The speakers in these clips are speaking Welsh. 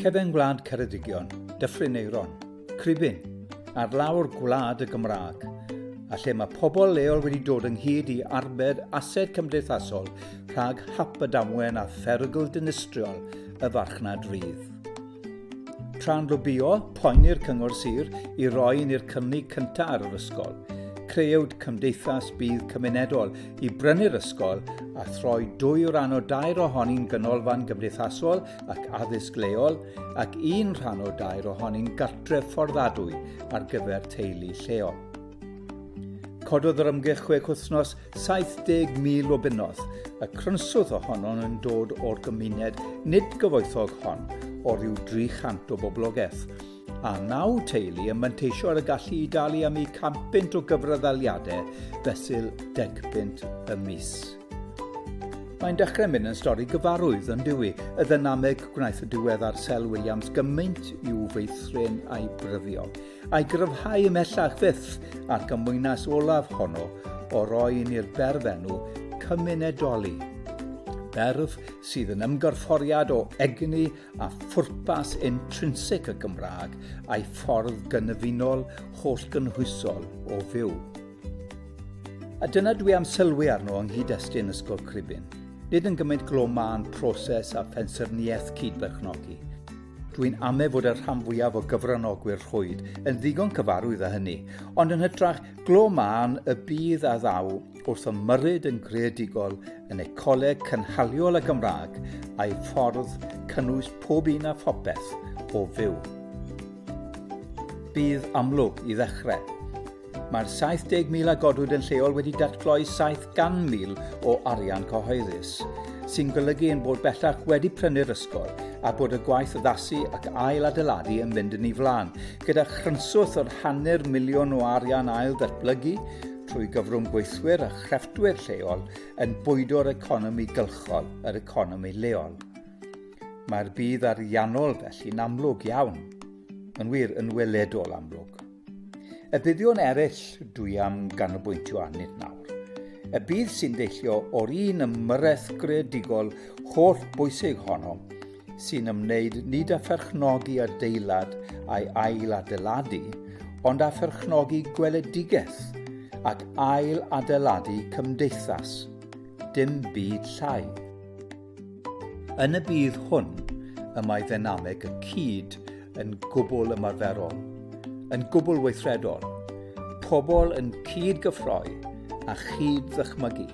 Cefn gwlad Ceredigion, Dyffryn Eiron, Cribyn, ar lawr gwlad y Gymraeg, a lle mae pobl leol wedi dod ynghyd i arbed ased cymdeithasol rhag hap y damwen a pherygl dinistriol y farchnad rydd. Tra'n lobïo, poeni'r Cyngor Sir i roi yn i'r cynnig cyntaf ar yr ysgol. Creuwyd cymdeithas budd cymunedol i brynu'r ysgol a throi dwy o ran o dair ohoni'n ganolfan gymdeithasol ac addysg leol ac un rhan o dair ohoni'n gartref fforddadwy ar gyfer teulu lleol. Cododd yr ymgyrch chwech wythnos 70,000 o bunnoedd, y crynswth ohono'n yn dod o'r gymuned nid gyfoethog hon o ryw 300 o boblogaeth, a naw teulu yn manteisio ar y gallu i dalu am eu campynt o gyfraddaliadau fesul degpynt y mis. Mae'n dechrau mynd yn stori gyfarwydd yn dywi, y ddynameg gwnaeth y diweddar Sel Williams gymaint i'w feithrin a'i bryddio. I gryfhau ymhellach fyth at gymwynas olaf honno o roi i ni'r berfenw cymunedoli. Berf sydd yn ymgorfforiad o egni a phwrpas intrinsig y Gymraeg a'i ffordd gynefynol holl gynhwysol o fyw. A dyna dwi am sylwi arno yng nghyd-destun Ysgol Cribyn. Nid yn gymaint glo mân proses a phensaerniaeth cyd-berchnogi, Dwi'n amau fod y rhan fwyaf o gyfranogwyr rhwyd yn ddigon cyfarwydd â hynny, ond yn hytrach glo mân y bydd a ddaw wrth ymyrryd yn greadigol yn ecoleg cynhaliol y Gymraeg a'i ffordd cynnwys pob un a phopeth o fyw. Bydd amlwg, i ddechrau, Mae'r 70,000 a godwyd yn lleol wedi datgloi 700,000 o arian cyhoeddus, sy'n golygu ein bod bellach wedi prynu'r ysgol a bod y gwaith addasu ac ail adeiladu yn mynd yn ei flaen, gyda chrynswth o'r hanner miliwn o arian ail ddatblygu trwy gyfrwng gweithwyr a chrefftwyr lleol yn bwydo'r economi gylchol, yr economi leol. Mae'r budd ariannol felly'n amlwg iawn. Yn wir, yn weledol amlwg. Y buddion eraill dwi am ganolbwyntio arnynt nawr. Y bydd sy'n deillio o'r un ymyrraeth greadigol holl bwysig honno sy'n ymwneud nid â pherchnogi adeilad a'i ail adeiladu, ond â pherchnogi gweledigaeth ac ail adeiladu cymdeithas. Dim byd llai. Yn y budd hwn, y mae ddynameg y cyd yn gwbl ymarferol, yn gwbl weithredol, pobl yn cyd-gyffroi a chyd-ddychmygu.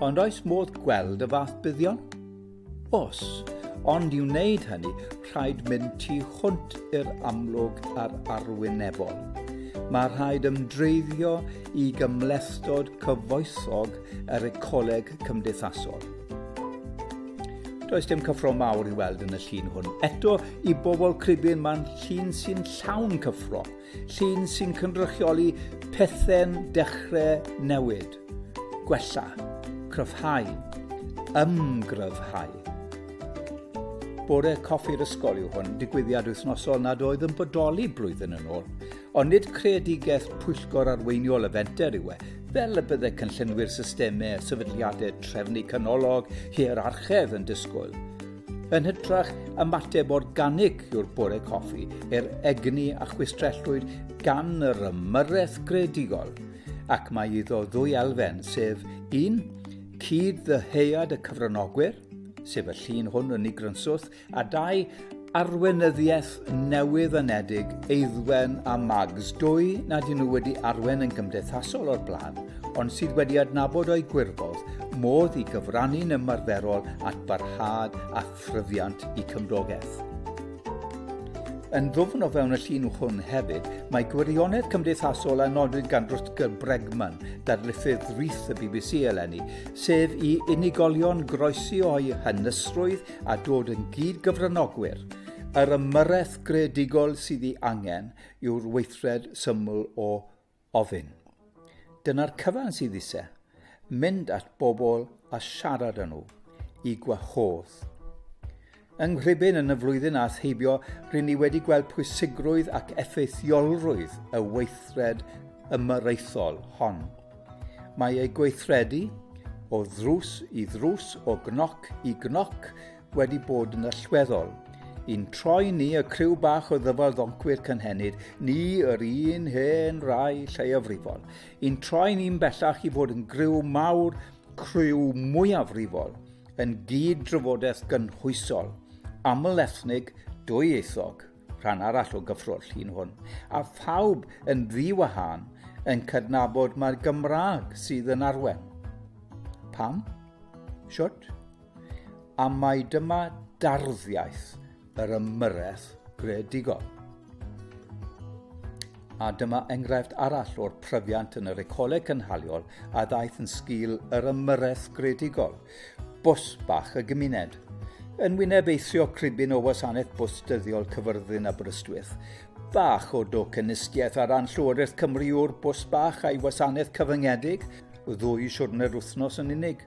Ond oes modd gweld y fath buddion? Os, ond i wneud hynny, rhaid mynd tu hwnt i'r amlwg a'r arwynebol. Mae rhaid ymdreiddio i gymhlethdod cyfoethog yr ecoleg cymdeithasol. Does dim cyffro mawr i weld yn y llun hwn. Eto, i bobl cribyn mae'n llun sy'n llawn cyffro, llun sy'n cynrychioli pethau'n dechrau newid, gwella, cryfhau, ymgryfhau. Bore coffi'r ysgol yw hwn, digwyddiad wythnosol nad oedd yn bodoli blwyddyn yn ôl, Ond nid creadigaeth pwyllgor arweiniol y fenter yw e, fel y bydde cynllunwyr systemau a sefydliadau trefnu canolog hierarchedd yn disgwyl. Yn hytrach, ymateb organig yw'r bore coffi i'r egni a chwistrellwyd gan yr ymyrraeth greadigol, ac mae iddo ddwy elfen, sef un, cyd-ddyheuad y cyfranogwyr, sef y llun hwn yn ei grynswth, A dau arweinyddiaeth newydd anedig, Eiddwen a Mags, dwy nad y'n nhw wedi arwen yn gymdeithasol o'r blaen, ond sydd wedi adnabod o'i gwirfodd modd i gyfrannu'n ymarferol at barhad a thryfiant i cymdogaeth. Yn ddwfn o fewn y llun hwn hefyd, mae gwirionedd cymdeithasol a nodwyd gan Rutger Bregman, darlithydd rith y bbc eleni, sef i unigolion groesi o'u hynysrwydd a dod yn gyd-gyfranogwyr, yr ymyrraeth greadigol sydd ei angen yw'r weithred syml o ofyn. Dyna'r cyfan sydd eisiau, mynd at bobl a siarad â nhw, i gwahodd. Yng Nghribyn yn y flwyddyn a theibio, rydyn ni wedi gweld pwysigrwydd ac effeithiolrwydd y weithred ymyrraethol hon. Mae ei gweithredu o ddrws i ddrws, o gnoc i gnoc, wedi bod yn allweddol. I'n troi ni, y criw bach o ddyfal ddoncwyr cynhenid, ni yr un hen rai lleiafrifol. I'n troi ni'n bellach i fod yn griw mawr, criw mwyafrifol, yn gyd-drafodaeth gynhwysol, aml-ethnig, dwy-ieithog. rhan arall o gyffro'r llun hwn, a phawb yn ddiwahân yn cydnabod mae'r Gymraeg sydd yn arwen. Pam? Siwt? A mae dyma darddiaeth yr ymyrraeth gredigol. A dyma enghraifft arall o'r pryfiant yn yr ecoleg cynhaliol a ddaeth yn sgil yr ymyrraeth gredigol – Bws bach y gymuned. Yn wyneb eithrio cribin o wasanaeth bws dyddiol Cyfyrddin Aberystwyth, bach o docynistiaeth ar ran Llywodraeth Cymru yw'r bws bach a'i wasanaeth cyfyngedig, ddwy siwrne'r wythnos yn unig.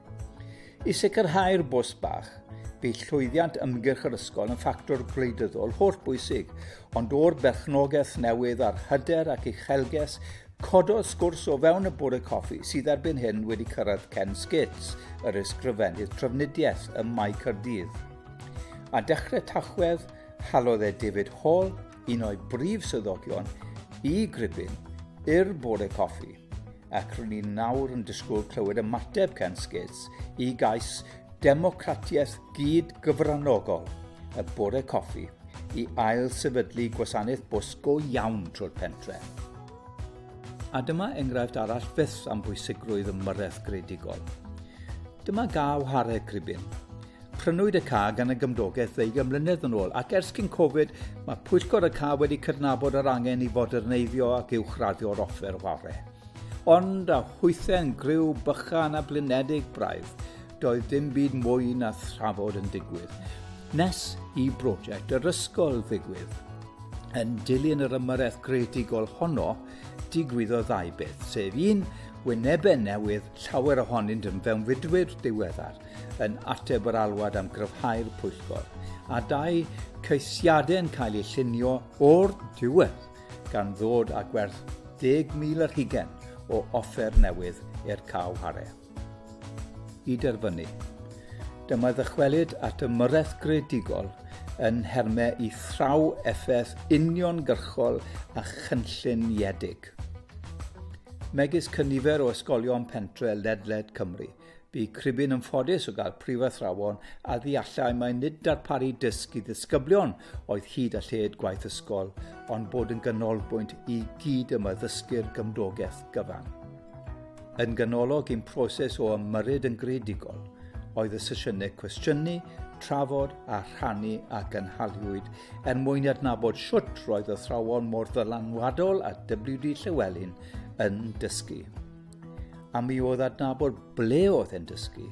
I sicrhau'r bws bach, bydd llwyddiant ymgyrch yr ysgol yn ffactor gwleidyddol holl bwysig, ond o'r berchnogaeth newydd a'r hyder ac uchelges Cododd sgwrs o fewn y bore coffi sydd erbyn hyn wedi cyrraedd Ken Skits, yr ysgrifennydd trafnidiaeth ym Mae Cyrdydd. A dechrau Tachwedd, halodd e David Hall, un o'i brif swyddogion, i Gribyn, i'r bore coffi, ac rwy'n ni'n nawr yn disgwyl clywed ymateb Ken Skits i gais democratiaeth gyd gyfranogol y bore coffi i ail sefydlu gwasanaeth bws go iawn trwy'r pentre. A dyma enghraifft arall fyth am bwysigrwydd ymyrraeth gredigol. Dyma gaw hareg cribyn. Prynwyd y ca gan y gymdogaeth ddeugain mlynedd yn ôl ac ers cyn Covid mae pwyllgor y ca wedi cydnabod yr angen i foderneiddio ac uwchraddio'r offer ware. Ond a hwythau'n griw bychan a blinedig braidd, doedd dim byd mwy na thrafod yn digwydd. Nes i brosiect yr ysgol ddigwydd. Yn dilyn yr ymyrraeth greadigol honno, digwyddo ddau beth, sef un, wynebau newydd, llawer ohonynt yn fewnfudwyr diweddar, yn ateb yr alwad am gryfhau'r pwyllgor, a dau, ceisiadau yn cael eu llunio o'r diwedd, gan ddod â gwerth 10,000 yr hugen o offer newydd i'r caw hare. i derfynu. Dyma ddychwelyd at ymyrraeth greadigol yn nhermau i thraw effaith uniongyrchol a chynlluniedig. Megis cynifer o ysgolion pentre ledled Cymru, bu Cribyn yn ffodus o gael prifathrawon a ddeallai mai nid darparu dysg i ddisgyblion oedd hyd a lled gwaith ysgol, ond bod yn ganolbwynt i gyd yma ddysgu'r gymdogaeth gyfan. Yn ganolog i'n proses o ymyrryd yn greadigol oedd y sesiynau cwestiynu, trafod a rhannu a gynhaliwyd er mwyn i adnabod siwt roedd athrawon mor ddylanwadol a WD Llywelyn yn dysgu. A mi oedd adnabod ble oedd e'n dysgu,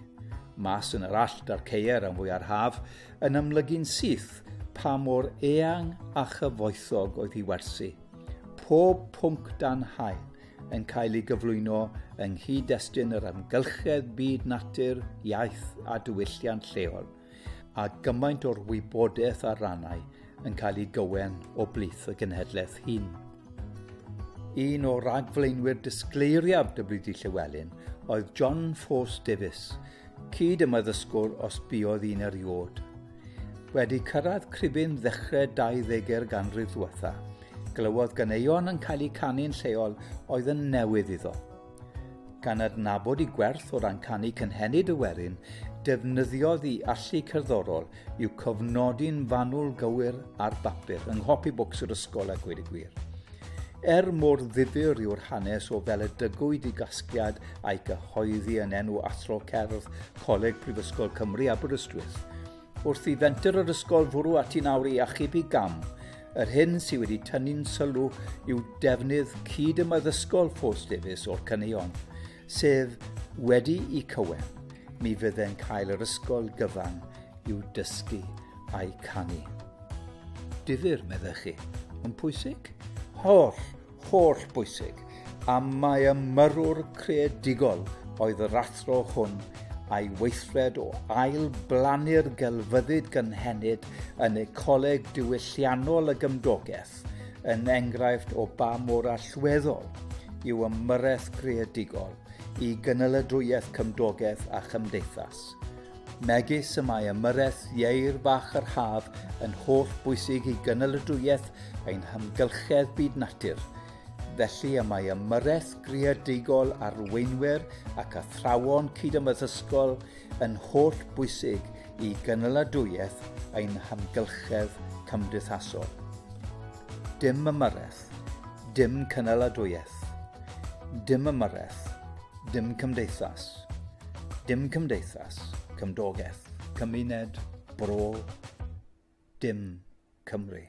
mas yn yr allt a'r ceier am fwyar haf, yn amlygu'n syth pa mor eang a chyfoethog oedd hi wersi. Pob pwnc dan hael, yn cael ei gyflwyno yng nghyd-destun yr amgylchedd byd natur, iaith a diwylliant lleol, a gymaint o'r wybodaeth a rannau yn cael ei gywen o blith y genhedlaeth hyn. Un o ragflaenwyr disgleiriaf WD Llewellyn oedd John Force Davies, cyd ymaddysgwr os buodd un erioed. Wedi cyrraedd cribin ddechrau 20er ganrif ddiwetha, glywodd ganeuon yn cael eu canu'n lleol oedd yn newydd iddo. Gan adnabod i gwerth o ran canu cynhenid y werin, defnyddiodd i allu cerddorol i'w cofnodi'n fanwl gywir ar bapur yng nghopi bwcs yr ysgol a gweud y gwir. Er mor ddifyr yw'r hanes o fel y dygwyd i gasgliad a'i gyhoeddi yn enw Athro Cerdd Coleg Prifysgol Cymru Aberystwyth, wrth i fenter yr ysgol fwrw ati nawr i achubu gam, yr hyn sydd wedi tynnu'n sylw yw defnydd cyd-ymaddysgol Ffos Davies o'r caneuon, sydd wedi'u cywen, mi fydde'n cael yr ysgol gyfan i'w dysgu a'i canu. Difyr, meddech chi, yn pwysig? Holl, holl bwysig, a mae ymyrwr creadigol oedd yr athro hwn a'i weithred o ail blannu'r gelfyddyd gynhenid yn Ecoleg Diwylliannol y Gymdogaeth yn enghraifft o ba mor allweddol yw ymyrraeth greadigol i gynnyladwyedd cymdogaeth a chymdeithas. Megis y mae ymyrraeth ieir fach yr haf yn holl bwysig i gynnyladwyedd ein hymgylchedd byd natur, Felly y mae ymyrraeth greadigol arweinwyr ac athrawon cyd-ymaddysgol yn holl bwysig i gynaladwyedd ein hamgylchedd cymdeithasol. Dim ymyrraeth, dim cynaladwyedd. Dim ymyrraeth, dim cymdeithas. Dim cymdeithas, cymdogaeth, cymuned, bro, dim Cymru.